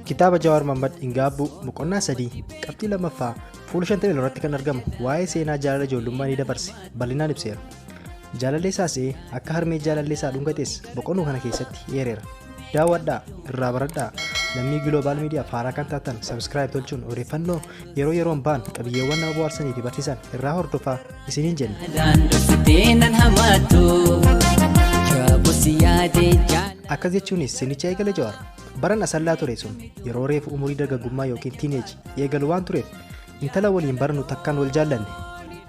Kitaaba Jawaar Mammad Ingaabbuu boqonnaa sadii qabxii lammaffaa fuula 50 irratti kan argamu waa'ee seenaa jaalala ijoollummaa ni dabarse bal'inaan ibseera. Jaalallee isaa se'ee akka harmee jaalallee isaa dhungates boqonnuu kana keessatti eereera. Daawwadhaa irraa baradhaa lammii Global Media faaraa kan taatan subscribe tolchuun odeeffannoo yeroo yeroon ba'an qabiyyeewwan nama bohaarsanii fi barsiisan irraa hordofaa. isiniin jenna. Jaalalaan dhuftee nan hamaadhu. Jaabus yaadee jaalalaan. Akkas jechuunis sinicha eegale Jawaar. Baran asallaa ture sun yeroo reefu umurii dargaggummaa yookiin tiineeji eegalu waan tureef intala waliin baranu takkaan wal jaallanne.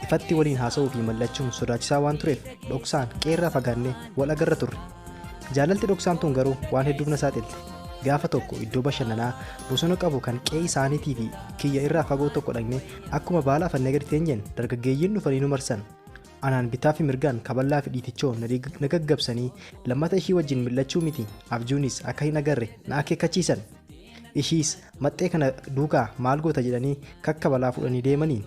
Ifatti waliin haasa'uu fi mallachuun sodaachisaa waan tureef dhoksaan qeerraa fagaannee wal agarra turre. Jaalalti dhoksaan tun garuu waan hedduuf na saaxilti. Gaafa tokko iddoo bashannanaa bosona qabu kan qe'ee isaaniitii fi kiyya irraa fagoo tokko dhaqne akkuma baala afannee gadi teenyeen dargaggeeyyiin dhufanii nu marsan. Anaan bitaa fi mirgaan kaballaa fi dhiitichoo na dig- na gaggabsanii lammata ishii wajjin mil'achuu miti abjuunis akka hin agarre na akeekkachiisan. Ishiis maxxee kana duukaa maal goota jedhanii kakkabalaa fuudhanii deemanii.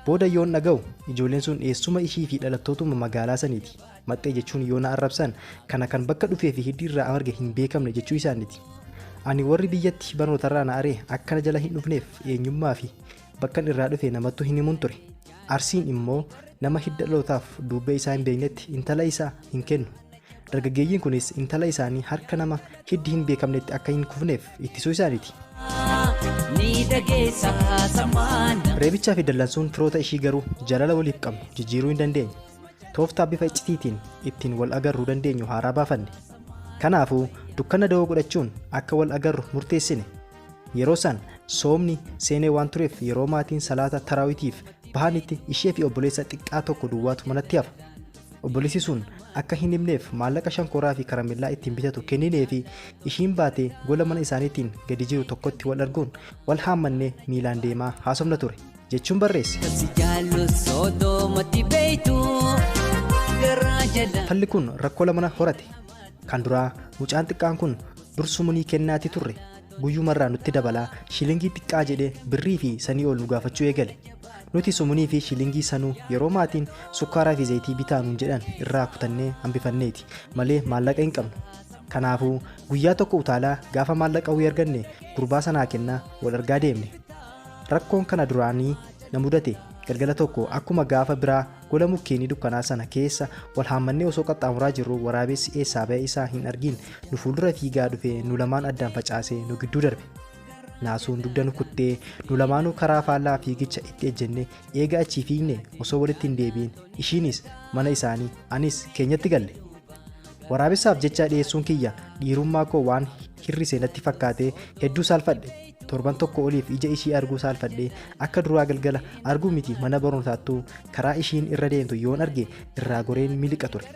Booda yoon dhaga'u ijoolleen sun eessuma ishii fi dhalattootumma magaalaa saniiti. Maxxee jechuun yoo na arrabsan kana kan bakka dhufee fi hiddi irraa amarge hin beekamne jechuu isaaniti. Ani warri biyyatti barnootarraa na aree akkana jala hin dhufneef eenyummaa fi bakkan irraa dhufe namattu hin himun ture. Arsiin immoo nama hidda dhalootaaf duubbee isaa hin beeknetti intala isaa hin kennu. Dargaggeeyyiin kunis intala isaanii harka nama hiddi hin beekamnetti akka hin kufneef ittisuu isaaniti. Reebichaa fi dallansuun firoota ishii garuu jaalala waliif qabnu jijjiiruu hin dandeenye. tooftaa bifa iccitiitiin ittiin wal agarruu dandeenyu haaraa baafanne. Kanaafuu dukkana dawoo godhachuun akka wal agarru murteessine. Yeroo san soomni seenee waan tureef yeroo maatiin salaata taraawitiif bahanitti ishee fi obboleessa xiqqaa tokko duwwaatu manatti hafa. Obboleessi sun akka hin himneef maallaqa shankooraa fi karamellaa ittiin bitatu kenninee fi ishiin baatee gola mana isaaniitiin gadi jiru tokkotti wal arguun wal haammannee miilaan deemaa haasofna ture. jechuun barreesse. Falli kun rakkoo lamana horate. Kan duraa mucaan xiqqaan kun dur sumunii kennaatii turre guyyumarraa nutti dabalaa shilingii xiqqaa jedhee birrii fi sanii ol nu gaafachuu eegale. Nuti sumunii fi shilingii sanuu yeroo maatiin sukkaaraa fi zayitii bitaa nuun jedhan irraa kutannee hambifanneeti malee maallaqa hin qabnu. Kanaafuu guyyaa tokko utaalaa gaafa maallaqa wayii arganne gurbaa sanaa kennaa wal argaa deemne. Rakkoon kana duraanii na mudate. Galgala tokko akkuma gaafa biraa gola mukkeenii dukkanaa sana keessa wal haammannee osoo qaxxaamuraa jirruu waraabessi eessaa ba'e isaa hin argiin nu fuuldura fiigaa dhufee nu lamaan addaan facaasee nu gidduu darbe. Naasuun dugda nu kuttee nu lamaanuu karaa faallaa fiigicha itti ejjenne eega achii fiigne osoo walitti hin deebiin ishiinis mana isaanii anis keenyatti galle. Waraabessaaf jecha dhiyeessuun kiyya dhiirummaa koo waan hir'ise natti fakkaatee hedduu saalfadhe. Torban tokko oliif ija ishii arguu saalfadhe. Akka duraa galgala arguu miti mana barnootaattuu karaa ishiin irra deemtu yoon arge irraa goreen miliqa ture.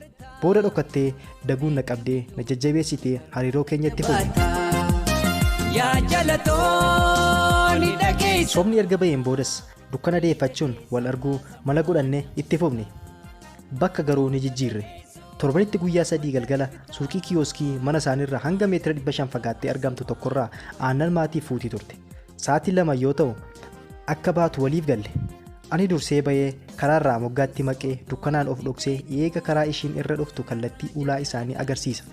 Booda dhokkattee daguun na qabdee na jajjabeessitee hariiroo keenya itti fufe. Yaa jalatooni dhageessu. Sobni erga baheen boodas dukkana deeffachuun wal arguu mala godhanne itti fufne. Bakka garuu ni jijjiirre. Torbanitti guyyaa sadii galgala suuqii kiyooskii mana isaaniirra hanga meetira 500 fagaattee argamtu tokkorraa aannan maatiif fuutii turte. Sa'aatii lama yoo ta'u akka baatu waliif galle. Ani dursee bahee karaarraa moggaatti maqee dukkanaan of dhoksee eega karaa ishiin irra dhuftu kallattii ulaa isaanii agarsiisa.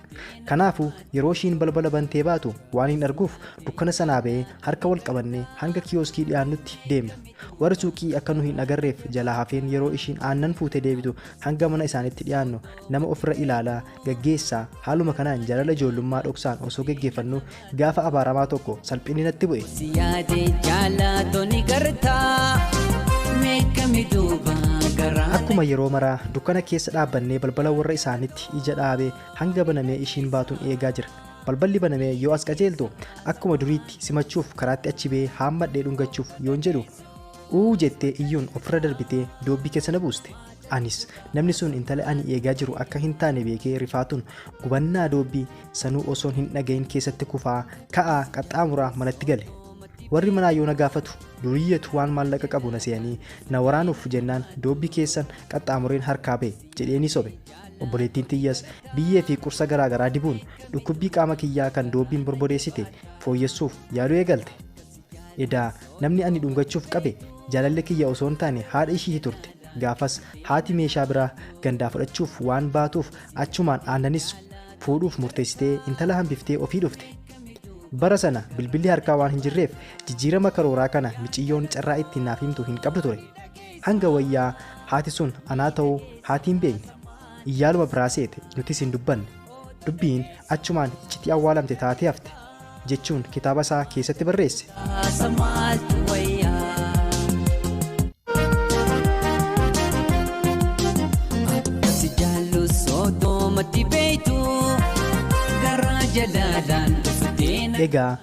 Kanaafuu yeroo ishiin balbala bantee baatu waan hin arguuf dukkana sanaa bahee harka wal qabannee hanga kiyooskii dhiyaannutti deemna. Warri suuqii akka nu hin agarreef jalaa hafeen yeroo ishiin aannan fuutee deebitu hanga mana isaaniitti dhiyaannu nama ofirra ilaalaa, gaggeessaa, haaluma kanaan jaalala ijoollummaa dhoksaan osoo geggeeffannuu gaafa abaaramaa tokko salphinni natti bu'e. Si yaade jaallatoo ni gartaa meeqami duuba garaa Akkuma yeroo maraa dukkana keessa dhaabbannee balbala warra isaaniitti ija dhaabee hanga banamee ishiin baatuun eegaa jira. Balballi banamee yoo as qajeeltu akkuma duriitti simachuuf karaatti achi ba'ee haammadhee dhungachuuf yoon jedhu uu jettee iyyuun ofirra darbitee doobbii keessa na buuste. Anis namni sun intala ani eegaa jiru akka hin taane beekee rifaatuun gubannaa doobbii sanuu osoon hin dhagahin keessatti kufaa ka'aa qaxxaamuraa manatti gale. Warri manaa yoo na gaafatu duriyyatu waan maallaqa qabu na seeyanii na waraanuuf jennaan doobbii keessan qaxxaamureen harkaa ba'e jedheenii sobe. Obboleettiin tiyyas biyyee fi qursa garaa garaa dibuun dhukkubbii qaama kiyyaa kan doobbiin borbodeessite fooyyessuuf yaaluu eegalte. Edaa namni ani dhungachuuf qabe jaalallee kiyya osoo hin taane haadha ishiiti turte. Gaafas haati meeshaa biraa gandaa fudhachuuf waan baatuuf achumaan aannanis fuudhuuf murteessitee intala hambiftee ofii dhufte. Bara sana bilbilli harkaa waan hin jirreef jijjiirama karooraa kana miciyyoon carraa ittiin naaf himtu hin qabdu ture. Hanga wayyaa haati sun anaa ta'uu haati hin beekne. Iyyaaluma biraa seete nutis hin dubbanne. Dubbiin achumaan iccitii awwaalamte taatee hafte, jechuun kitaaba isaa keessatti barreesse. Haasa maaltu wayyaa? Akka si jaallu soodoo matti beektu garaa jalaalaan dhuftee na Egaa